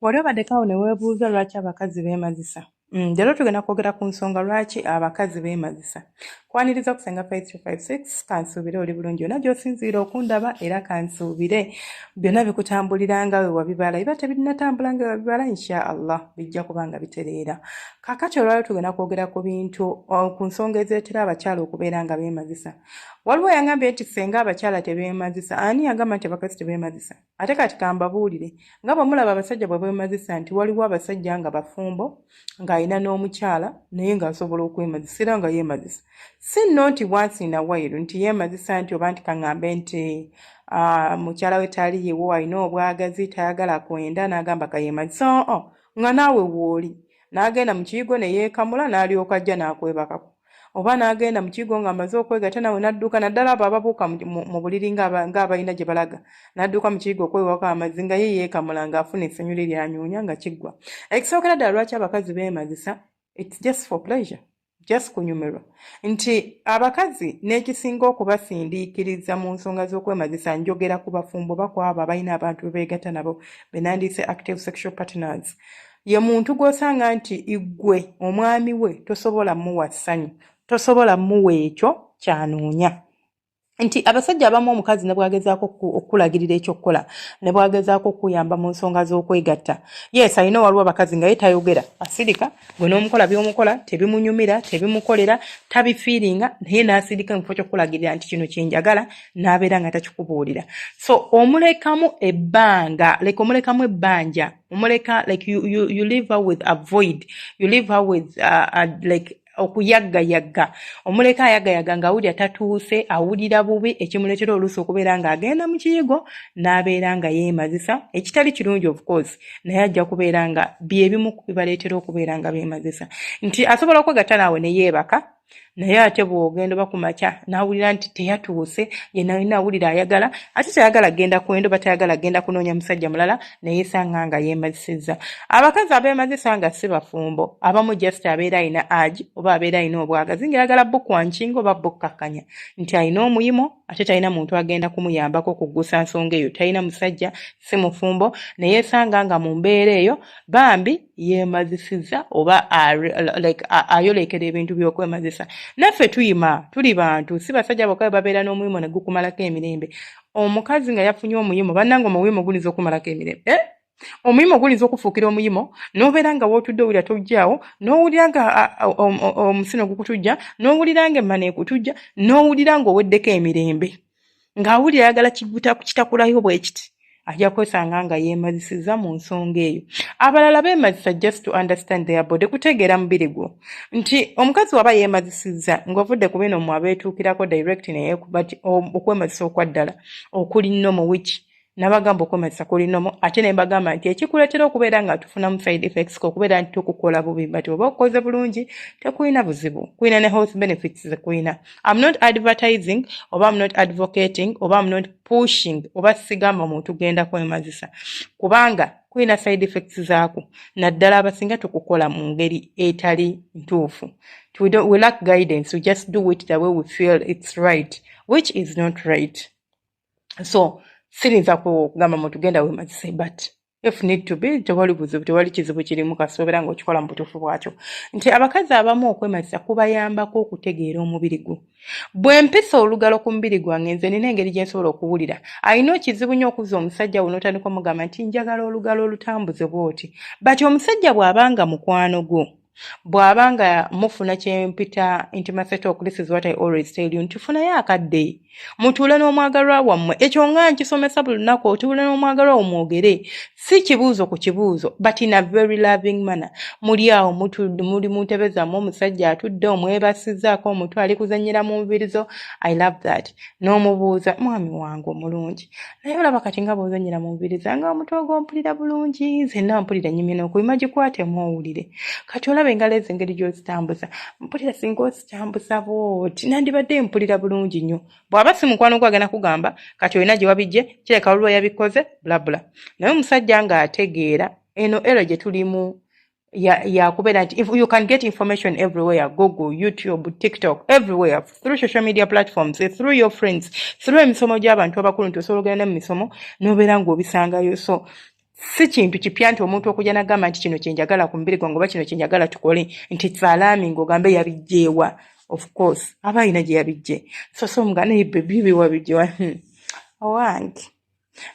wali obaddeko awo ne weebuuza lwaki abakazi beemazisa mm, leero tugenda kwogera ku nsonga lwaki abakazi beemazisa kwaniriza ku senga 5356 kansuubire oli bulungi yona gyosinziira okundaba era kansuubire byonna bikutambulira nga we wabibala biba tebirinatambula nga webibala insha allah bijja kuba nga bitereera kakati olwalio tugenda kwogera ku bintu ku nsonga ezeetera abakyala okubeera nga beemazisa waliwo yangambye nti senga abakyala tebeemazisa ani yagamba nti abakazi tebeemazisa Ate kati kambabuulire nga bwe mulaba abasajja bwe beemazisa nti waliwo abasajja nga bafumbo ng'alina n'omukyala naye ng'asobola okwemazisa era nga yeemazisa si nno nti wansi na wayiru nti yeemazisa nti oba nti kaŋŋambe nti ah, mukyala we tali yewo alina obwagazi tayagala kwenda n'agamba kayeemazisa oo nga naawe wooli n'agenda mu kiyigo ne yeekamula n'alyoka ajja n'akwebakako oba n'agenda mu kigo ng'amaze okwegata nawe n'adduka naddala abo ababuuka mu buliri ng'abalina gye balaga n'adduka mu kigo okwewako amazzi nga ye yeekamula ng'afuna essanyu lye lyanyuunya nga kiggwa ekisookera ddala lwaki abakazi beemazisa its just for pleasure just kunyumirwa nti abakazi n'ekisinga okubasindiikiriza mu nsonga z'okwemazisa njogera ku bafumbo bakwabo abalina abantu bebeegatta nabo benandiise active sexual partners ye muntu gw'osanga nti iggwe omwami we tosobola muwa ssanyu tosobola muwa ekyo kyanoonya nti abasajja abamu omukazi ne bwagezaako okukulagirira ekyokukola ne bwagezaako okukuyamba mu nsonga z'okwegatta yes alina waliwo abakazi nga ye tayogera asirika gwe n'omukola by'omukola tebimunyumira tebimukolera tabifiiringa naye n'asirika mu kifo ky'okukulagirira nti kino kye njagala n'abeera nga takikubuulira so omulekamu ebbanga leka omulekamu ebbanja omuleka like you, you, you leave her with a void you leave her with uh, uh, like okuyaggayagga omuleka ayagayaga nga awulira tatuuse awulira bubi ekimuleetera oluusi okubeera ng'agenda mu kiyigo n'abeera nga yeemazisa ekitali kirungi of course naye ajja kubeera nga byebimu bibaleetera okubeera nga beemazisa nti asobola okwegatta naawe ne yeebaka naye ate bwogenda oba kumakya nawulira nti teyatuuse yenalina awulira ayagala ate tayagala genda kwendo batayagala genda kunoonya musajja mulala naye sanga nga yemazisizza abakazi abemazisa nga si bafumbo abamu just abeera alina agi oba abeera alina obwagazi ngaeyagala bukwankinga oba bukkakkanya nti alina omuyimo ate talina muntu agenda kumuyambako kuggusa nsonga eyo talina musajja si mufumbo naye sanga nga mu mbeera eyo bambi yemazisiza oba like ayolekera ebintu byokwemazisa naffe tuyima tuli bantu si basajja bokka babeera n'omuyimo ne gukumalako emirembe omukazi nga yafunye omuyimo bannanga omuyimo gulinza okumalako emirembe eh? omuyimo gulinza okufuukira omuyimo n'obeera nga wootudde owulira togyawo n'owulira nga omusino gukutujja n'owulira nga emmana ekutujja n'owulira nga oweddeko emirembe ng'awulira ayagala kitakulayo bwe kiti ajja kwesanga nga yeemazisizza mu nsonga eyo abalala beemazisa just to understand their body kutegeera mubiri gwo nti omukazi waba yeemazisizza ng'ovudde ku bino mu abeetuukirako direct neyekuba ti okwemazisa okwa ddala okuli nomu wiki nabagamba okwematisa kulinomu ate ne mbagamba nti ekikuleetera okubeera nga tufunamu side effects okubeera nti tukukola bubi but oba okukoze bulungi tekulina buzibu kulina ne health benefits zekulina am not advertising oba am not advocating oba am not pushing oba sigamba omuntu genda kwemazisa kubanga kulina side effects zaako naddala abasinga tukukola mu ngeri etali ntuufu we, don't, we lack guidance we just do it the way we feel it's right which is not right so sirinza kugamba muntu genda wemazise but if need to be tewali buzibu tewali kizibu kirimu kasoobera nga okikola mu butuufu bwakyo nti abakazi abamu okwemazisa kubayambako okutegeera omubiri gwo bwe mpisa olugalo ku mubiri gwange nze nina engeri gye nsobola okuwulira alina okizibu nyo okuza omusajja wo n'otandika omugamba nti njagala olugalo olutambuze bwoti but omusajja bw'abanga mukwano gwo bw'aba nga mufuna kye mpita nti maseta okulisa is what i always tell you nti funayo akadde mutuule n'omwagalwa wammwe ekyo nga nkisomesa buli lunaku otuule n'omwagalwa wo mwogere si kibuuzo ku kibuuzo but in a very loving manner muli awo muli mu ntebe zammwe omusajja atudde omwebasizaako omutwe ali kuzannyira mu nvirizo i love that n'omubuuza mwami wange omulungi naye olaba kati nga bwozanyira mu mubiri zange omutwe ogwompulira bulungi zenna mpulira nyumye nokuyima gikwatemu owulire kati olaba engalo ezo engeri gyozitambuza mpulira singa ozitambuza bwoti nandibadde mpulira bulungi nnyo bwaba si mukwano gwo agenda kugamba kati olina gye wabijje kireka waliwo yabikoze bulabula naye omusajja ng'ategeera eno ero gye tulimu ya ya kubeera nti if you can get information everywhere google youtube tiktok everywhere through social media platforms through your friends through emisomo gy'abantu abakulu nti osobola ogenda mu misomo n'obeera ng'obisangayo so si kintu kipya nti omuntu okujja nagamba nti kino kyenjagala ku mubiri gwange oba kino kyenjagala tukole nti salaami ng'ogambe yabijjeewa of course aba alina gye yabijje so so nga naye bebibi wabijjewa hmm. owange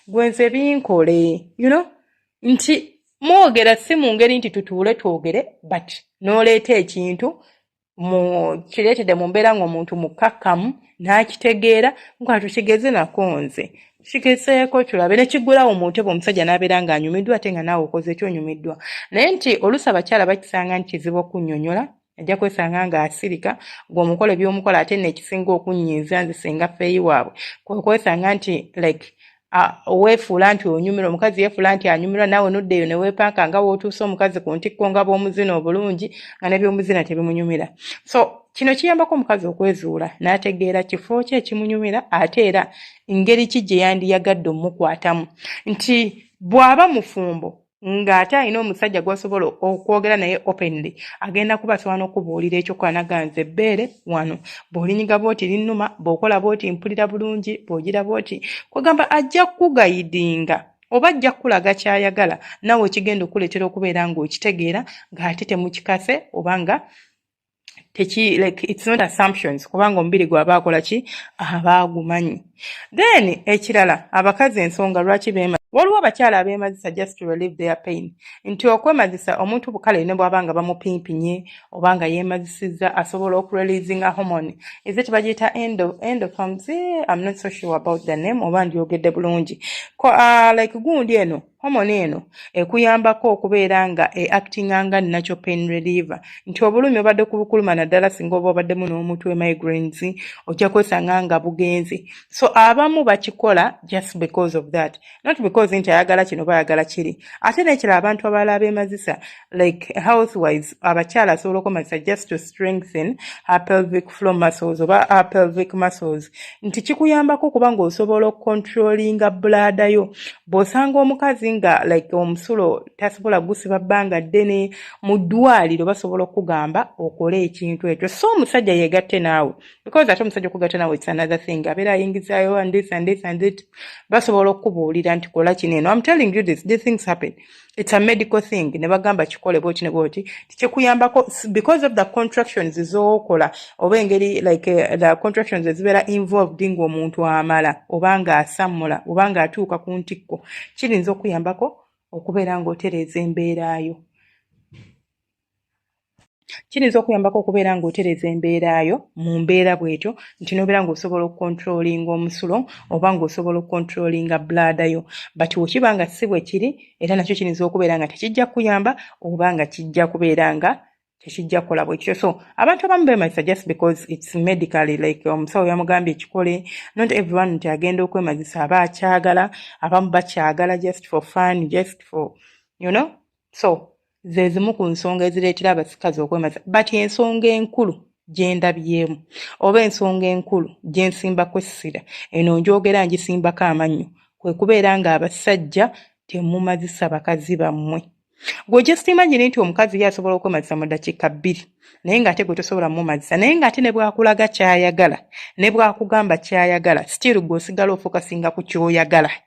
gwe nze binkole you know nti mwogera si mu ngeri nti tutuule twogere but n'oleeta ekintu mu kireetedde mu mbeera ng'omuntu mukkakkamu n'akitegeera nga tukigeze nako nze kigezeeko tulabe ne kiggulawo mu ntebe omusajja n'abeera ng'anyumiddwa ate nga naawe okoze ekyonyumiddwa naye nti oluusi abakyala bakisanga nti kizibu okunnyonnyola ajja kwesanga nga asirika gwe omukola ebyomukola ate nekisinga okunyiiza nze singa feeyi waabwe kwekwesanga nti like weefuula nti onyumirwa omukazi yeefuula nti anyumirwa naawe noddeeyo neweepanka nga wootuuse omukazi ku ntikko nga bwomuzina obulungi nga nebyomuzina tebimunyumira so kino kiyambako omukazi okwezuula n'ategeera kifo ki ekimunyumira ate era ngeri ki gye yandiyagadde omukwatamu nti bw'aba mufumbo nga ate alina omusajja gwasobola okwogera naye openly agenda kuba asobola nokubuulira ekyokuba naga nze ebbeere wano bwolinyiga bwoti linnuma bwokola bwoti mpulira bulungi bwogira bwoti kwegamba ajja kukugayidinga oba ajja kukulaga kyayagala nawe ekigenda okukuleetera okubeera ng'okitegeera ng'ate temukikase oba nga teki like it's not assumptions kubanga omubiri gwaba akola ki aba agumanyi then ekirala abakazi ensonga lwaki bema waliwo abakyala abemazisa just to relieve their pain nti okwemazisa omuntu bukale ne bwaba nga bamupimpinye oba nga yemazisizza asobola okureleasinga hormone is it bagiyita endo endo comes eh, i'm not so sure about the name oba ndyogedde bulungi uh, like gundi eno Homoni eno ekuyambako okubeera nga e actinga nga natural pain reliever nti obulumi obadde kubukuluma naddala singa oba obaddemu n'omutwe migraines ojja kwesanga nga bugenze so abamu bakikola just because of that not because nti ayagala kino bayagala kiri ate nekira abantu abalala bemazisa like health wise abakyala asobola okomanyisa just to strengthen her pelvic floor muscles oba her pelvic muscles nti kikuyambako okuba nga osobola okukontrolinga bulaada yo bw'osanga omukazi nga like omusulo tasobola gusiba bbanga ddene mu ddwaliro basobola okukugamba okole ekintu ekyo so omusajja yegatte naawe because ate omusajja okugatta naawe it's another thing abeera ayingizayo and this and this and it basobola okukubuulira nti kola kino eno am telling you this these things happen it's a medical thing ne bagamba kikole bwoti ne bwoti kikuyambako because of the contractions zokola oba engeri like uh, the contractions ezibeera involved ng'omuntu amala oba ng'asammula oba ng'atuuka ku ntikko kirinza okuyambako okubeera ng'otereeza embeeraayo kiyinza okuyambako okubeera ng'otereza embeera yo mu mbeera bwetyo nti nobeera ng'osobola okukontrolinga omusulo oba ng'osobola okukontrolinga bulaada yo but wekiba nga si bwe kiri era nakyo kiyinza okubeera nga tekijja kuyamba oba nga kijja kubeera nga tekijja kukola bwekityo so abantu abamu bemazisa just because its medically like omusawo yamugambye ekikole not everyone nti agenda okwemazisa aba akyagala abamu bakyagala just for fun just for you know so ze zimu ku nsonga ezireetera abasikazi okwemaza but ensonga enkulu gyendabyemu oba ensonga enkulu gyensimbako essira eno njogera ngisimbako amannyo kwe kubeera ng'abasajja temumazisa bakazi bammwe gwe just imagine nti omukazi ye asobola okwemazisa mu dakiika bbiri naye ng'ate gwe tosobola mumazisa naye ng'ate ne bwakulaga kyayagala ne bwakugamba kyayagala still gwe osigala ofokasinga ku kyoyagala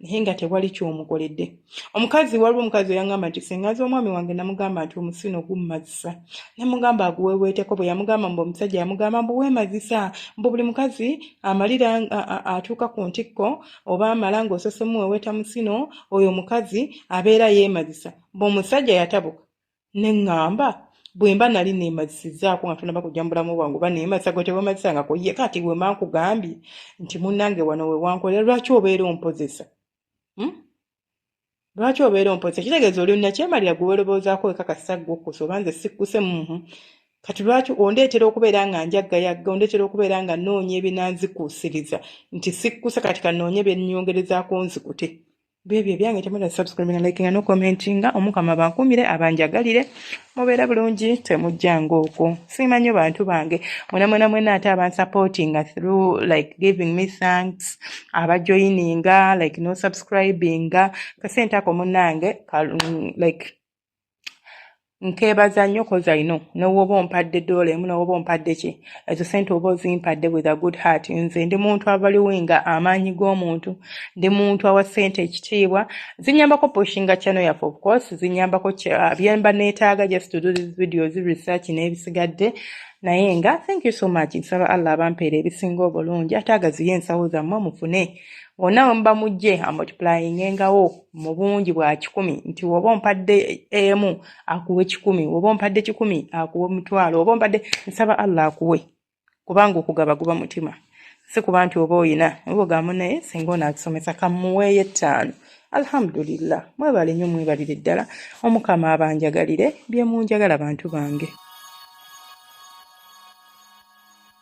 naye nga tewali kyomukoledde omukazi waliwo omukazi eyangamba nti sengazi omwami wange namugamba nti omusino gummazisa namugamba aguweweeteko bwe yamugamba mbu omusajja yamugamba mbu weemazisa mbu buli mukazi amalira atuuka ku ntikko oba amala ng'osose muweweeta musino oyo omukazi abeera yeemazisa mbu omusajja yatabuka ne ŋŋamba bwe mba nali neemazisizzaako nga tonaba kujja mu bulamu bwange oba neemazisa gwe tewemazisangako ye kati bwe mba nkugambye nti munnange wano we wankolera lwaki obeera ompozesa hmm? lwaki obeera ompozesa kitegeeza oli nakyemalira gwe weroboozaako wekakasa gwe okusa oba nze sikkuse muhu kati lwaki ondeetera okubeera nga njaggayagga ondeetera okubeera nga noonya ebinanzikuusiriza nti sikkuse kati kanoonye byennyongerezaako nzikute bwebyo ebyange temwena subscribe na likinga no commentinga omukama bankumire abanjagalire mubeera bulungi temujjanga okwo siima nnyo bantu bange mwena mwena mwena ate abansupportinga through like giving me thanks abajoyininga like no subscribinga kasente ako munange like nkeebaza nnyo koza ino newooba ompadde doola emu newooba ompadde ki ezo sente oba ozimpadde with a good heart nze ndi muntu avaliwinga amaanyi g'omuntu ndi muntu awa sente ekitiibwa zinyambako pushinga chano yaffe of course zinyambako byemba neetaaga just to do this videos research n'ebisigadde naye nga thank you so much nsaba allah abampeera ebisinga obulungi ate agaziye ensawo zammwe mufune wonna wemuba mujje amultiplyingengawo mu bungi bwa kikumi nti woba ompadde emu akuwe kikumi woba ompadde kikumi akuwe omutwalo oba ompadde nsaba allah akuwe kubanga okugaba guba mutima si kuba nti oba oyina oba ogamba naye singa ono atusomesa kamuweeyo ettaano alhamdulillah mwebale nyo mwebalire ddala omukama abanjagalire byemunjagala bantu bange